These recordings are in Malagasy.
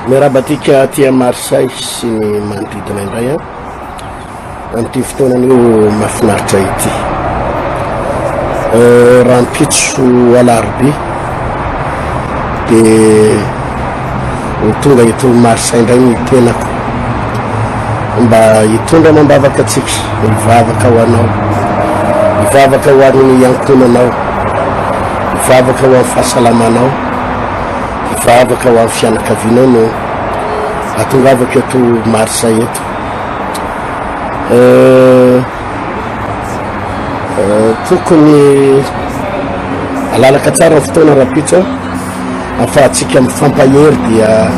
Miarahaba antsika aty à Marseille sy ny manodidina indray an amin'ity fotoanan'io mahafinaritra ity euh, rahampitso alarobia dia Ho tonga eto Marsa indray ny tenako mba hitondra amam-bavaka antsika, hivavaka ho anao, hivavaka ho an'ny ankohonanao, hivavaka ho an'ny fahasalamanao, hivavaka ho an'ny fianakavianao no atongavako eto Marsa eto. Euh, euh, tokony alalaka tsara ny fotoana rapitso Afahatsika mifampahery dia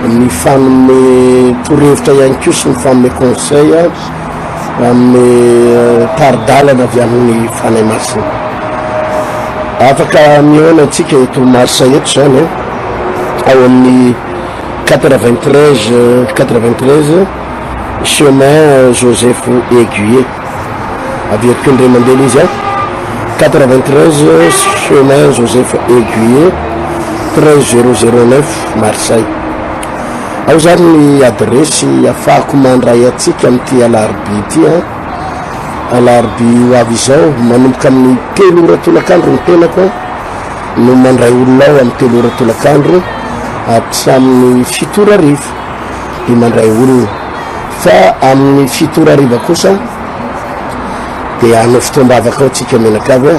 mifanome torohevitra ihany koa sy mifanome conseil amin'ny tari-dalana avy amin'ny Fanahy Masina. Afaka mihaona antsika eto Marsa eto izany eh, ao amin'ny 93 93 chemin Joseph Aiguier. Averiko indray mandeha le izy a. 93 chemin Joseph Aiguier 13009 Marseille. Ao zany ny adiresy afahako mandray atsika amin'ity alarobia ity a. Alarobia ho avy izao manomboka amin'ny telo ora tolakandro ny tenako no mandray olona ao amin'ny telo ora tolakandro hatramin'ny fito ora arivo dia mandray olona. Fa amin'ny fito ora hariva kosa dia hanao fotoam-bavaka ao tsika menakavy a.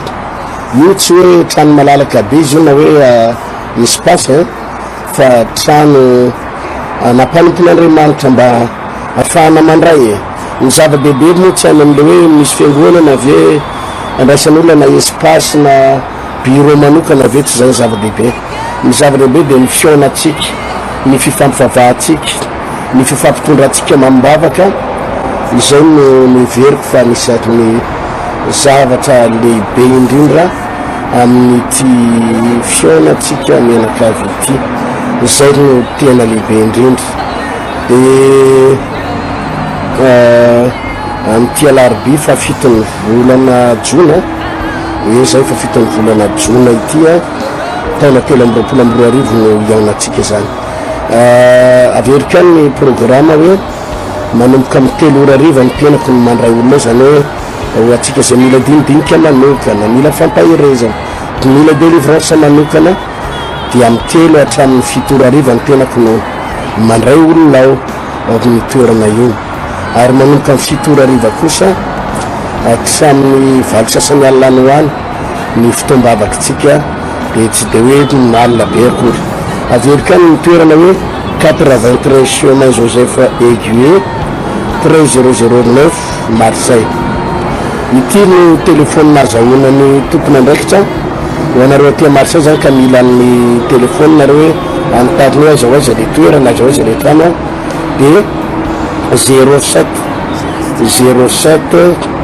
Io tsy hoe trano malalaka be izy io na hoe misy pasy a, fa trano nampanompon'Andriamanitra mba hahafahana mandray e. Ny zava-dehibe moa tsy any amin'ilay hoe misy fiangonana ve andraisan'olona na espace na bureau manokana ve, tsy izay ny zava-dehibe. Ny zava-dehibe dia ny fihaonantsika, ny fifampivavahantsika, ny fifampitondrantsika amam-bavaka, izay no noheveriko fa anisan'ny zavatra lehibe indrindra amin'ity fihaonantsika mianakavy ity, izay no tena lehibe indrindra. Dia amin'ity alarobia fahafiton'ny volana jona, ie izay fahafiton'ny volana jona ity, taona telo amby roapolo amby roa arivo no hiainantsika izany. Ah, averiko ihany ny programa hoe manomboka amin'ny telo ora ariva ny tenako no mandray olona izany hoe ho antsika izay mila dinidinika manokana, mila fampaherezana, mila délivrance manokana dia amin'ny telo hatramin'ny fito ora ariva ny tenako no mandray olona aho ao amin'ny toerana iny ary manomboka amin'ny fito ora ariva kosa hatramin'ny valo sasany alina any ho any ny fotoam-bavakintsika dia tsy dia hoe mal be akory. Averiko any ny toerana hoe quatre-vingt-treize chemin Joseph Eguier, treize zéro zéro neuf Marseille. Ity no telephone azahoana ny tompon'andraikitra. Ho anareo aty Marseille zany ka mila ny telephone nareo hoe anontany hoe aiza ho aiza le toerana, aiza ho aiza le trano dia zéro sept, zéro sept,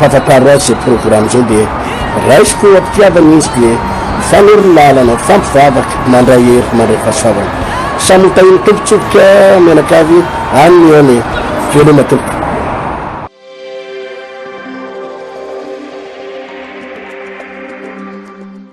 Papa Paroisse izay programme izay dia raisiko ho am-pitiavana izy dia hifanorono lalana, hifampivavaka, mandray hery, mandray fahasoavana. Samy ho tahin'ny tompontsofoka mianakavy any ny eny e! Veloma tompoko.